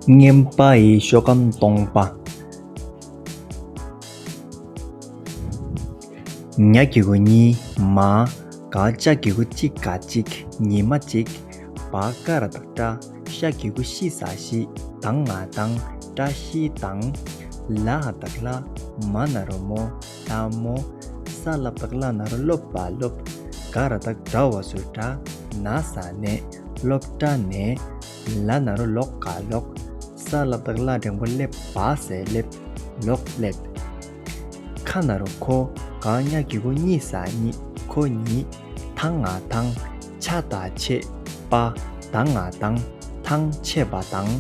བརྔན་པ་ཡི་ཤོ་གམ་སྟོང་པ། ཉག་གི་གུ་གཉིས་མ། ག་ལྕགས་གི་གུ་གཅིག་ག་གཅིག་ཉི་མ་གཅིག། བ་ཀ་ར་དང་སྐྲ་ཤ་གི་གུ་བཞི་ཟ་བཞི་དང་ང་དང་སྐྲ་བཞི་དང། ལ་ཧ་དང་ལྷ་མ་ན་རོ་མོ་ལྷ་མོ། ས་ལ་དང་ལ་ན་རོ་ལོ་བ་ལོ། ག་ར་དང་གྲ་བ་སུ་གྲ་ན་ས་ནས་ལོ་གྲ་ནས། ལ་ན་རོ་ལོག་ག་ལོག། ས་ལ་བདག་བླ་འགྲེང་བུ་སླེབ། བ་ཟས་སླེབ། ལོག་སླེབ། ཁ་ན་རོ་ཁོ། གང་གཉའ་གི་གུ་གཉིས་ས་གཉིས་ཁོ་གཉིས། ཐང་ང་ཐང། ཆ་བདག་ཆེ། པ། དང་ང་དང། ཐང་ཆེ་བ་དང།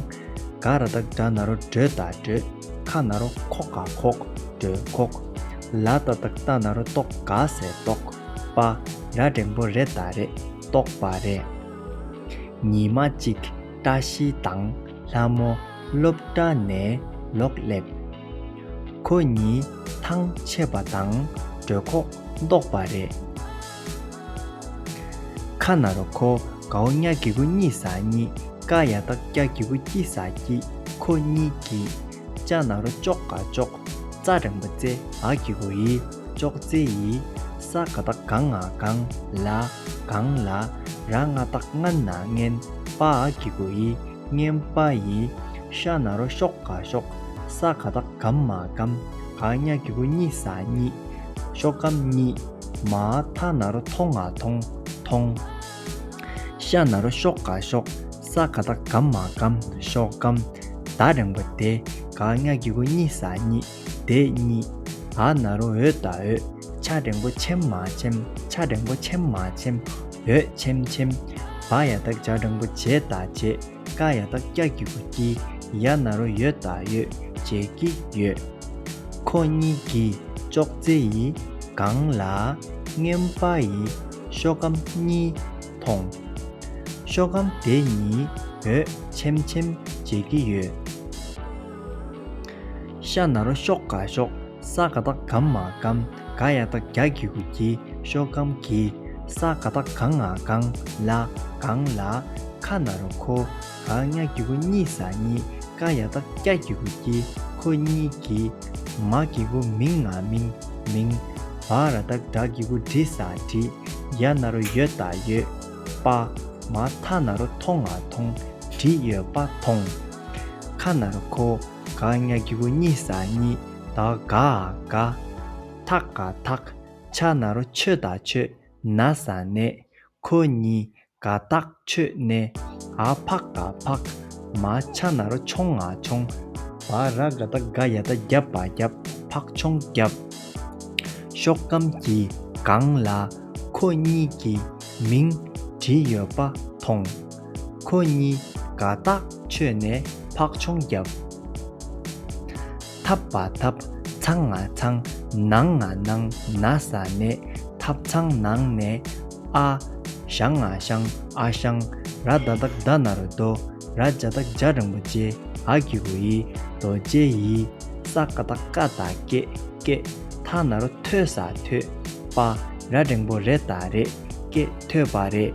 ག་ར་བདག་དགྲ་ན་རོ་སྒྲོལ་བདག་སྒྲོལ། ཁ་ན་རོ་ཁོག་ག་ཁོག། སྒྲོལ་ཁོག། ལ་ད་བདག་རྟ་ན་རོ་ལྟོག་ག་ཟས་ལྟོག། པ། ར་འགྲེང་བུ་རེ་བདག་རེ་ལྟོག་པ་རེ། ཉི་མ་གཅིག་བཀྲ་ཤིས་དང་ལྷ་མོ་སློབ་གྲྭ་ནས་ལོག་སླེབས། ཁོ་གཉིས་ཐང་ཆད་པ་དང་གྲོད་ཁོག་བཟློག་པ་རེད། ཁ་ནར་ཁོ་གའོ་སྙ་གི་གུ་གཉིས་ཟ་གཉིས་ཀ་ཡ་ཏག་སྐྱ་གི་གུ་སྐྱིད་ཟ་སྐྱིད་ཁོ་གཉིས་ཀྱིས་ལྕགས་ནག་རོ་ཅོག་ག་ཅོག། རྩ་རིང་པོ་རྩེ་ཨག་གི་བུ་ཡི་ཅོག་རྩེ་ཡི། ས་ག་དག་གང་ཨག་གང་ལ་གང་ལ། ར་ལྔ་དག་ལྔ་ན་ལྔན་པ་ཨག་གི་བུ་ཡི་ལྔན་པ་ཡི། ཤ་ནག་རོ་ཤོག་ག་ཤོག། ས་ག་དག་སྒམ་མ་སྒམ་ག་གཉའ་གི་བུ་གཉིས་ས་གཉིས། ཤོག་སྒམ་གཉིས། མ་མཐའ་ནག་རོ་མཐོང་ཨ་མཐོང་མཐོང། ཤ་ནག་རོ་ཤོག་ག་ཤོག། ས་ག་ད་གམ་མ་གམ་ཤོག་གམ་ད་རེང་བ་དེ་ག་ང་གི་གུ་གཉིས་ས་གཉིས་དེ་གཉིས་ཨ་ན་རོ་འོད་ད་འོད་ཆ་རེང་བོ་ཆེམ་མ་ཆེམ་ཆ་རེང་བོ་ཆེམ་མ་ཆེམ་འོད་ཆེམ་ཆེམ་བ་ཡ་ད་བྱ་རེང་བོ་བྱེ་ད་བྱེ་ཀ་ཡ་ད་སྐྱ་གི་གུ་སྐྱི་ཡ་ན་རོ་ཡོད་ད་ཡོད་བྱེ་སྐྱི་ཡོད། ཁོ་གཉིས་ཀྱི་ཅོག་ཙེ་ཡི་སྒང་ལ་མངན་པ་ཡི་ཤོག་གམ་གཉིས། མཐོང། ཤོ་གམ་དེ་གཉིས་འོད་ཆེམ་ཆེམ་འབྱེད་ཀྱི་ཡོད། ཤ་ནར་ཤོག་ག་ཤོག་ས་ག་དག་གམ་མ་གམ་ག་ཡ་དག་རྒྱ་གི་གུ་གི་ཤོ་གམ་གི་ས་ག་དག་གང་ང་གང་ལ་གང་ལ་ཁ་ནར་ཁོ། གང་ཉག་གི་གུ་གཉིས་ས་གཉིས་ཀ་ཡ་ཏག་སྐྱ་གི་གུ་དཀྱིལ་ཁོ་གཉིས་ཀྱི། མ་གི་གུ་མིང་ང་མིང་མིང། བ་ར་ཏག་བྲག་གི་གུ་བྲི་ས་བྲི། ཡ་ན་རོ་ཡོད་ཏག་ཡོད། པ། མ་ཐ་ན་རོ་ཐོང་ང་ཐོང། བྲི་ཡོད་པ་ཐོང། ཁ་ན་རོ་ཁོ། གང་ཉག་གི་གུ་གཉིས་ས་གཉིས་ཏག་ག་ག། ཐག་ག་ཐག། ཆ་ན་རོ་ཆོད་ཏག་ཆོད། ན་ས་ནས། ཁོ་གཉིས། ག་དག་མཆོད་གནས་ཨ་ཕག་ག་ཕག། མ་ཆ་ནར་མཆོང་ང་མཆོང། བ་ར་ག་ད་ག་ཡ་ད་རྒྱབ་བ་རྒྱབ། ཕག་མཆོང་རྒྱབ། ཤོག་སྒམ་གྱི་སྒང་ལ་ཁོ་གཉིས་ཀྱི་མིང་བྲིས་ཡོད་པ་མཐོང། ཁོ་གཉིས་ག་དག་མཆོད་ནས་ཕག་མཆོང་རྒྱབ། འཐབ་པ་འཐབ། ཚང་ང་ཚང། ནང་ང་ནང། ན་ས་ནས། འཐབ་ཚང་ནང་ནས། ཨ། ཞང་ང་ཞང། ཨ་ཞང། ར་བདག་དག་བདག་ན་རོ་རྡོ། ར་བརྒྱ་དག་བརྒྱ་རིན་པོ་ཆེ། ཨ་ཀི་རུ་ཡི། རྡོ་རྗེ་ཡི། ས་ཀ་དག་ཀ་དག་ཀེ། ཀེ། ཐ་ན་རོ་ཐོས་ས་ཐོས། པ། ར་རིང་པོ་རེ་དག་རེ། ཀེ། ཐོས་པ་རེད།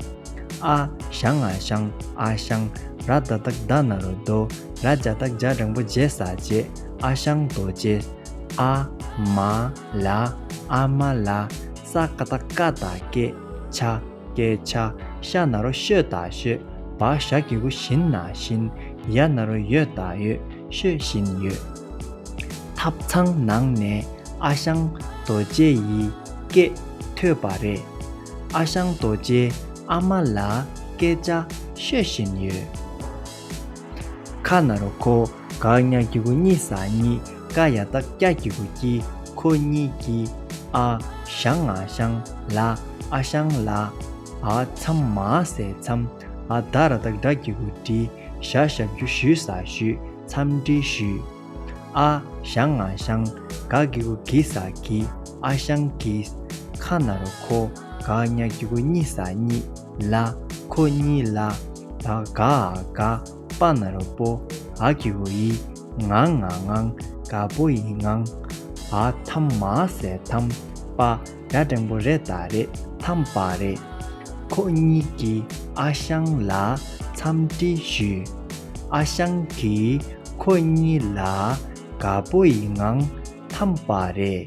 ཨ། ཞང་ང་ཞང། ཨ་ཞང། ར་བདག་དག་བདག་ན་རོ་རྡོ། ར་བརྒྱ་སྟག་བརྒྱ་སྦྲང་བུ་བརྒྱད་ཟ་བྱེད་ཨ་ཞང་རྡོ་རྗེ། ཨ། མ། ལ། ཨ་མ་ལ། ས་ཀ་ད་ཀ་ད་སྐད་ཆ། སྐད་ཆ། ཤ་ན་རོ་ཤོད་ད་ཤོད། བ་ཞག་གི་གུ་བཞིན་ན་བཞིན། ཡ་ན་རོ་ཡོད་ད་ཡོད། ཤོད་བཞིན་ཡོད། ཐབ་ཚང་ནང་ནས་ཨ་ཞང་རྡོ་རྗེ་ཡི་སྐད་ཐོས་པ་རེད། ཨ་ཞང་རྡོ་རྗེ་ཨ་མ་ལ་སྐད་ཆ་ཤོད་བཞིན་ཡོད། ཁ་ན་རོ་ཁོ་གག་སྙ་སྒྱི་གུ་གཉིས་ཟ་གཉིས་ཀ་ཡ་ཏག་སྐྱ་སྒྱི་གུ་སྐྱི་ཁོ་གཉིས་སྐྱི། ཨ་ཞང་ང་ཞང་ལ་ཨ་ཞང་ལ། ཨ་འཚམས་མ་ཟས་འཚམས་ཨ་ད་ར་ཏག་འདྲ་སྒྱི་གུ་འདྲི་ཞག་ཞག་རྒྱུ་ཞུས་ཟ་ཞུས་འཚམས་འདྲི་ཞུས། ཨ། ཞང་ང་ཞང་ག་གི་གུ་གི་ས་གི་ཨ་ཞང་གི། ཁ་ན་རོ་ཁོ་ག་ཉ་གི་གུ་གཉིས་ས་གཉིས་ལ་ཁོ་གཉིས་ལ། ད་ག་ཨ་ག་པ་ན་རོ་པོ་ཨ་གི་གུ་ཡི་ངང་ང་ངང་ག་པོ་ཡི་ངང། ཨ་ཐམ་མ་ཟས་ཐམ་པ་དགྲ་སྒྲེང་པོ་རེད་ད་རེད་དམ་པ་རེད། ཁོ་གཉིས་ཀྱིས་ཨ་ཞང་ལ་འཚམས་འདྲི་ཞུས། ཨ་ཞང་གིས་ཁོ་གཉིས་ལ་དགའ་པོ་ཡི་ངང་འཐམས་པ་རེད།